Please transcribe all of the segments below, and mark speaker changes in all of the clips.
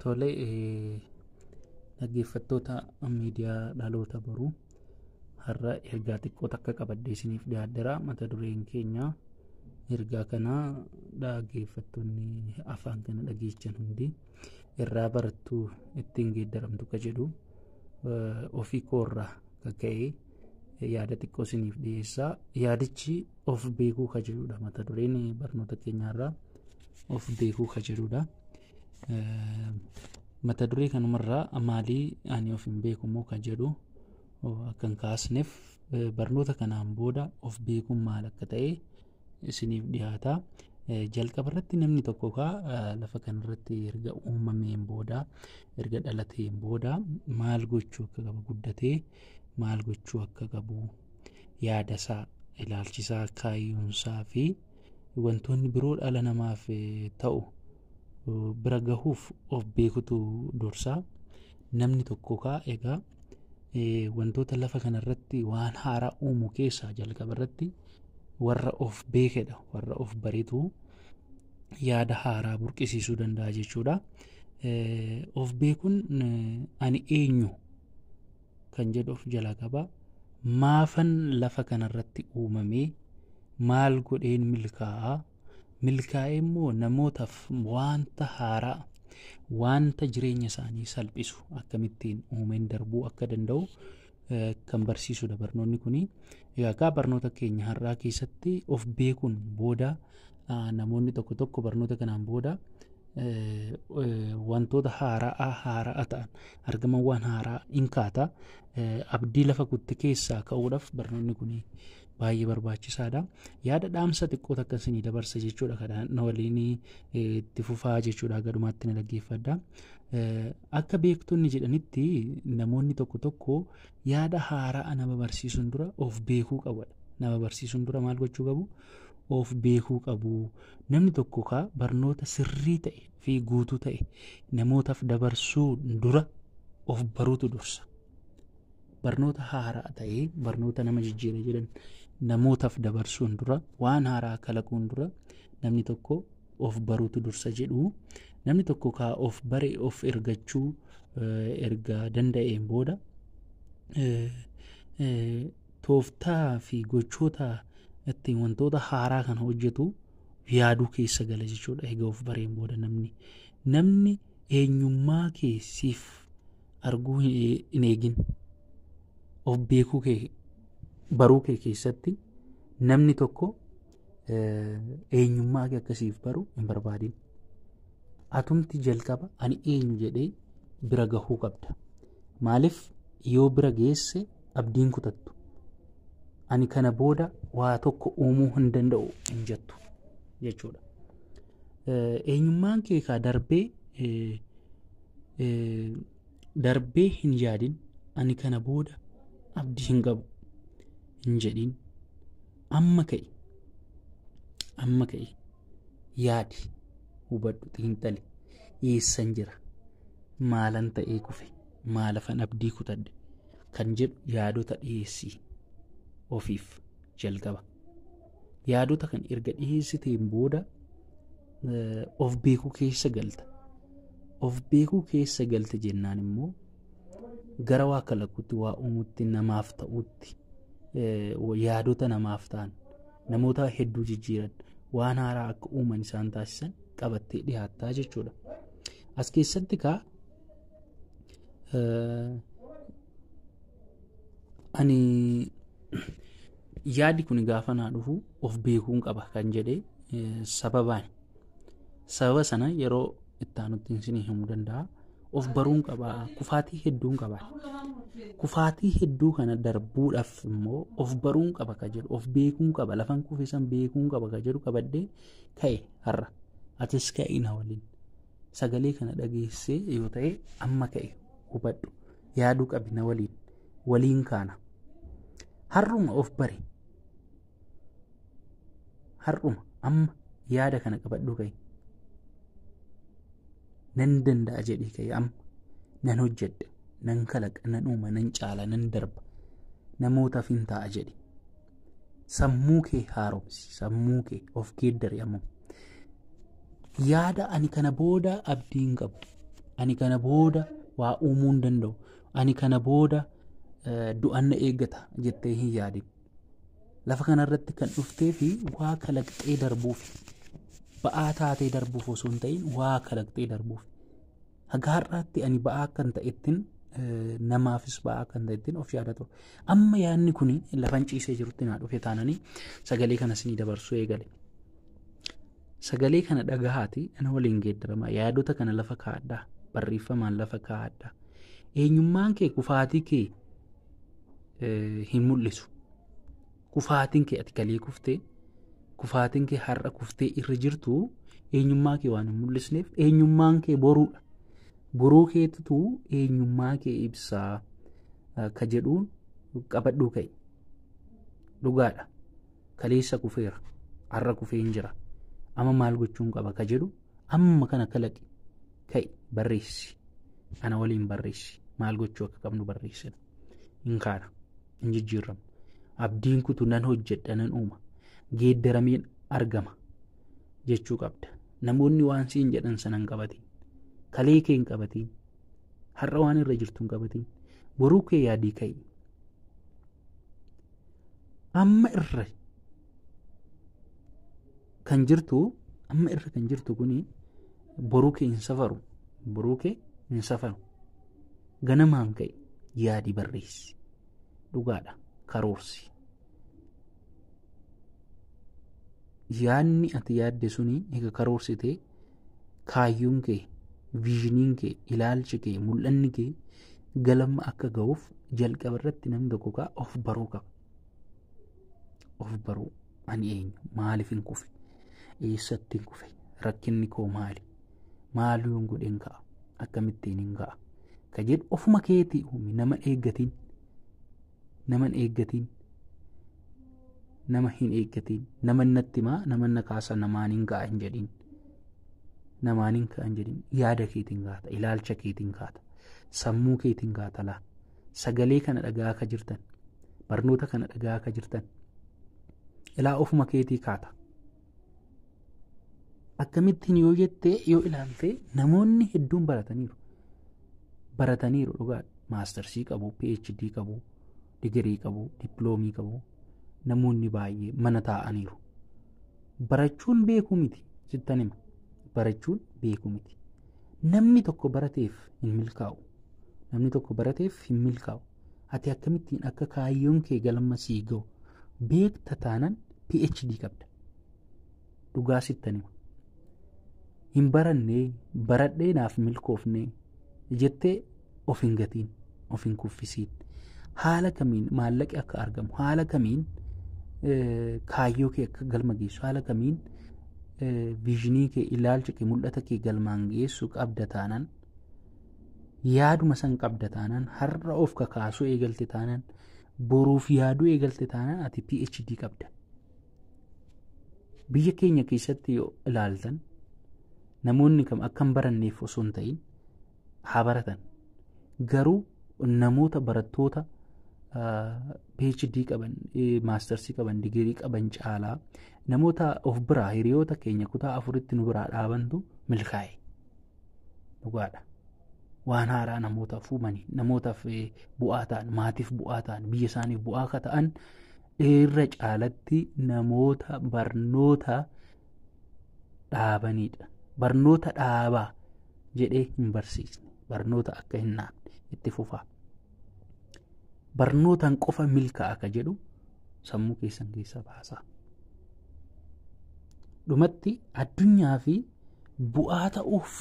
Speaker 1: Tole eh, dhaggeeffattoota miidiyaa dhaloota boruu har'a ergaa xiqqoo takka qabadhee isiniif dhiyaadheera mata dureen keenya ergaa kana dhaggeeffattoonni afaan kana dhageechan hundi irraa barattu ittiin geeddaramtu ka jedhu eh, ofii koorraa kan ka'e yaada xiqqoo isiniif dhiyeessaa yaadichi of beekuu ka jedhudha mata dureen barnoota keenyaarraa of beekuu ka jedhudha mata duree kanumarraa maalii ani of hin beeku immoo ka jedhu akkan kaasneef barnoota kanaan booda of beekuun maal akka ta'e isiniif dhiyaata jalqaba irratti namni tokko kaa lafa kanarratti erga uumameen booda erga dhalateen booda maal gochuu akka qabu guddatee maal gochuu akka qabu yaada isaa ilaalchisaa kaayyoonsaa fi wantoonni biroo dhala namaaf ta'u bira gahuuf of beekutu dursaa namni tokko kaa egaa wantoota lafa kanarratti waan haaraa uumu keessaa jalqaba irratti warra of beekedha warra of baretu yaada haaraa burqisiisuu danda'a jechuudha. Of beekuun ani eenyu kan jedhu of jalaa qaba. Maafan lafa kanarratti uumamee maal godheen milkaa'a? Milkaa'ee immoo namootaaf wanta haaraa wanta jireenya isaanii salphisu akkamittiin uumeen darbuu akka danda'u eh, kan barsiisudha barnoonni kuni. Egaa kaa barnoota keenya har'aa keessatti of beekuun booda Namoonni tokko tokko barnoota kanaan booda wantoota haara'aa haara'a ta'an argaman waan haaraa in kaata abdii lafa kutte keessaa ka'uudhaaf barnoonni kun baay'ee barbaachisaadha. Yaada dhaamsa xiqqoo takka isinii dabarsa jechuudha kana na waliin itti fufaa jechuudha gadhumaatti na dhaggeeffadha. Akka beektonni jedhanitti namoonni tokko tokko yaada haara'a nama barsiisuun dura of beekuu qabadha. Nama barsiisuun dura maal gochuu qabu? of beekuu qabu. Namni tokko kaa barnoota sirrii ta'e fi guutuu ta'e namootaaf dabarsuu dura of baruutu dursa. Barnoota haaraa ta'e barnoota nama jijjiira jedhan namootaaf dabarsuun dura waan haaraa kalaquun dura namni tokko of baruutu dursa jedhu. Namni tokko kaa of bare of ergachuu erga danda'een booda tooftaa fi gochoota ittiin wantoota haaraa kana hojjetu yaaduu keessa gala jechuudha egaa of bareen booda namni namni eenyummaa kee siif arguu hin eegin of beekuu kee baruu kee keessatti namni tokko eenyummaa kee akkasiif baru hin barbaadin. Atumti jalqaba ani eenyu jedhee bira gahuu qabda. Maaliif yoo bira geesse abdiin kutattu. Ani kana booda waa tokko uumuu hin danda'u hin jettu jechuudha. Eenyummaan kee kaa darbee darbee hin yaadin ani kana booda abdii hin qabu hin jedhin Amma ka'i. Amma ka'i. Yaadi. Hubadhu xiinxali. Eessan jira? Maalan ta'ee kufe? Maalafan abdii kutadhe? Kan jedhu yaadota dhiyeessii ofiif jalqaba. Yaadota kan erga dhiyeessiteen booda of beekuu keessa galta. Of beekuu keessa galte jennaan immoo gara waa kalaquutti waa uumutti namaaf ta'utti yaadota namaaf ta'an namoota hedduu jijjiiran waan haaraa akka uuman isaan taasisan qabattee dhiyaattaa jechuudha. As keessatti kaa ani yaadi kun gaafa naa dhufu of beekuun qaba kan jedhe sababaan Sababa sana yeroo itti aanutti isinii himuu danda'a. Of baruun qaba. Kufaatii hedduun qaba. Kufaatii hedduu kana darbuudhaaf immoo of baruun qaba ka jedhu of beekuun qaba lafan kufisan beekuun qaba ka jedhu qabadhee ka'e har'a. Atis ka'e na waliin. Sagalee kana dhageessee yoo ta'e amma ka'e hubadhu. Yaaduu qabi na waliin. Waliin kaana. Har'uma of bari. har'uma amma yaada kana qabadhuu ka'e nan danda'a jedhii ka'e amma nan hojjedha nan kalaqa nan uuma nan caala nan darba namootaaf hin ta'a jedhi sammuu kee haaromsi sammuu kee of geeddari amma yaada ani kana booda abdii hin qabu ani kana booda waa uumuu hin danda'u ani kana booda du'anna eeggata jettee hin yaadin lafa kanarratti kan dhuftee fi waa kalaqxee darbuuf ba'aa taatee darbuuf osoo hin ta'in waa kalaqxee darbuuf haga har'aatti ani ba'aa akkan ta'ettin eh, namaafis ba'aa akkan ta'ettin of yaada ture amma yaadni kun lafan ciisee jirutti naa dhufe taananii sagalee kana sinii dabarsuu eegale sagalee kana dhagahaati ana waliin geeddarama yaadota kana lafa kaa'adhaa barreeffamaan lafa kaa'adhaa eenyummaan kee kufaatii kee hin mul'isu. Kufaatiin kee ati kalee kuftee kufaatiin kee har'a kuftee irra jirtu eenyummaa kee waan hin mul'isneef eenyummaan kee boruudha. Boruu keetitu eenyummaa kee ibsaa ka jedhuun qabadhuu ka'e. Dhugaadha. Kaleessa kufeera. Har'a kufee hin jira. Amma maal gochuun qaba ka jedhu amma kana kalaqi ka'i barreessi ana waliin barreessi maal gochuu akka qabnu barreessina hin kaana hin jijjiirramu abdiin kutu nan hojjedha nan uuma geeddarameen argama jechuu qabda namoonni waan siin jedhan sanan qabatiin kalee kee hin qabatiin har'a waan irra jirtu hin qabatiin boruu kee yaadii ka'i amma irra kan jirtu amma irra kan jirtu kuni boruu kee hin safaru boruu kee hin safaru ganamaan ka'e yaadi barreessi dhugaadha karoorsi yaadni ati yaadde suni egaa karoorsite kaayyoon kee viizhiniin kee ilaalchi kee mul'anni kee galma akka ga'uuf jalqaba irratti namni tokko kaa of baruu qaba of baruu Ani eenyu? Maaliifin kufe? Eessattiin kufe? Rakkinni koo maali? Maal yoon godheen ka'a? Akkamittiin hin ka'a? Ka jedhu ofuma keetii uumi nama eeggatiin. Nama hin eeggatiin. Nama hin eeggatiin. Nama natti himaa nama na kaasa namaan hin ka'a hin jedhin. Namaan hin ka'a hin jedhin. Yaada keetiin kaata. Ilaalcha keetiin kaata. Sammuu keetiin kaata laa. sagalee kana dhagaa akka jirtan barnoota kana dhagaa akka jirtan ilaa ofuma keetii kaata. Akkamittiin yoo jettee yoo ilaalte namoonni hedduun barataniiru. Barataniiru dhugaadha. Maastarsii qabu, PhD qabu, digirii qabu, dippiloomii qabu namoonni baay'ee mana taa'aniiru. Barachuun beekuu miti sittan hima. Barachuun beekuu miti. Namni tokko barateef hin milkaa'u. namni tokko barateef hin milkaa'u ati akkamittiin akka kaayyoon kee galma sii ga'u beekta taanan phd qabda dhugaa sittan hima hin barannee baradhee naaf milkoofnee jettee of hin gatiin of hin kuffisiin haala kamiin maallaqi akka argamu haala kamiin kaayyoo kee akka galma geessu haala kamiin viizinii kee ilaalcha kee mul'ata kee galmaan geessu qabda taanan yaaduma san qabda taanaan har'a of kakaasuu eegalte taanaan boruuf yaaduu eegalte taanaan ati PhD qabda. Biyya keenya keessatti yoo ilaaltan namoonni kam akka hin baranneef osoo hin ta'in haa baratan. Garuu namoota barattoota PhD qaban, maastarsii qaban, digirii qaban caalaa namoota of biraa hiriyoota keenya kutaa afuritti nu biraa dhaabantu milkaa'e. dhugaadha. Waan haaraa namootaaf uumanii namootaaf bu'aa ta'an maatiif bu'aa ta'an biyya isaaniif bu'aa akka ta'an irra caalatti namoota barnoota dhaabanidha. Barnoota dhaabaa jedhee hin barsiisne barnoota akka hin naafne itti fufaa. Barnootaan qofa milkaa'a akka jedhu sammuu keessan keessaa baasaa. Dhumatti addunyaa fi bu'aa ta'uuf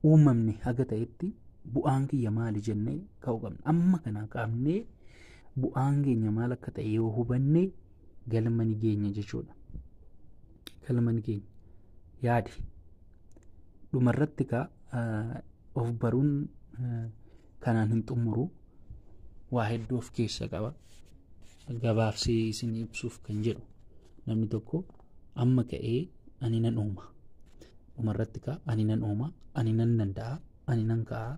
Speaker 1: uumamne haga ta'etti bu'aan kiyya maali jennee ka'uu qabna. Amma kana qabnee bu'aan keenya maal akka ta'e yoo hubanne galma ni geenya jechuudha. Galma ni geenya. Yaadi. Dhumarratti kaa of baruun kanaan hin xumuru waa hedduu of keessa qaba. Gabaabsee isin ibsuuf kan jedhu namni tokko amma ka'ee ani nan uuma dhumarratti kaa ani nan uuma ani nan danda'a ani nan ka'a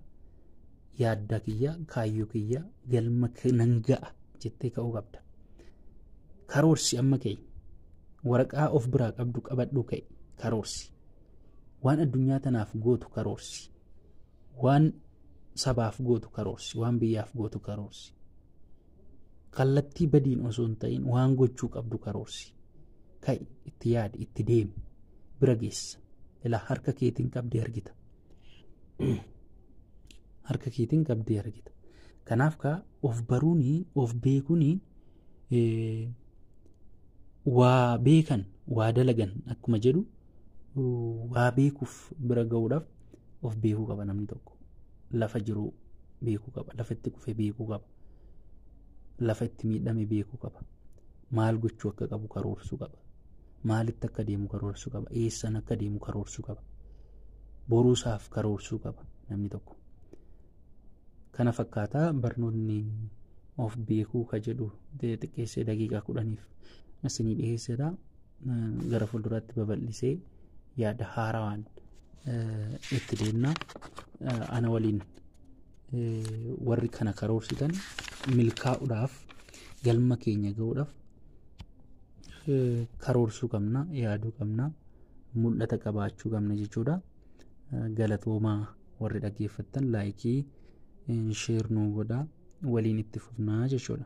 Speaker 1: yaadda kiyya kaayyoo kiyya galma k- nan ga'a jettee ka'uu qabda karoorsi amma ka'e waraqaa of biraa qabdu qabadhuu ka'e karoorsi waan addunyaa tanaaf gootu karoorsi waan sabaaf gootu karoorsi waan biyyaaf gootu karoorsi kallattii badiin osoo hin ta'in waan gochuu qabdu karoorsi ka'i itti yaadi itti deemi bira geessa ilaa harka keetiin qabdee argita harka keetiin qabdee argita kanaaf kaa of baruun of beekuun waa beekan waa dalagan akkuma jedhu waa beekuuf bira ga'uudhaaf of beekuu qaba namni tokko lafa jiru beekuu qaba lafa itti kufe beekuu qaba lafa itti miidhame beekuu qaba. Maal gochuu akka qabu karoorsuu qaba. Maalitti akka deemu karoorsuu qaba. Eessan akka deemu karoorsuu qaba. Boruusaaf karoorsuu qaba namni tokko. Kana fakkaataa barnoonni of beekuu ka jedhu xiqqeessee daqiiqaa kudhaniif isinii dhiyeessedha. Gara fuulduraatti babal'isee yaada haarawaan itti deemna. Ana waliin warri kana karoorsitan milkaa'uudhaaf galma keenya ga'uudhaaf karoorsuu qabna yaaduu qabna mul'ata qabaachuu qabna jechuudha galatoomaa warri dhaggeeffattan laayikii sheer nuu godhaa waliin itti fufnaa jechuudha.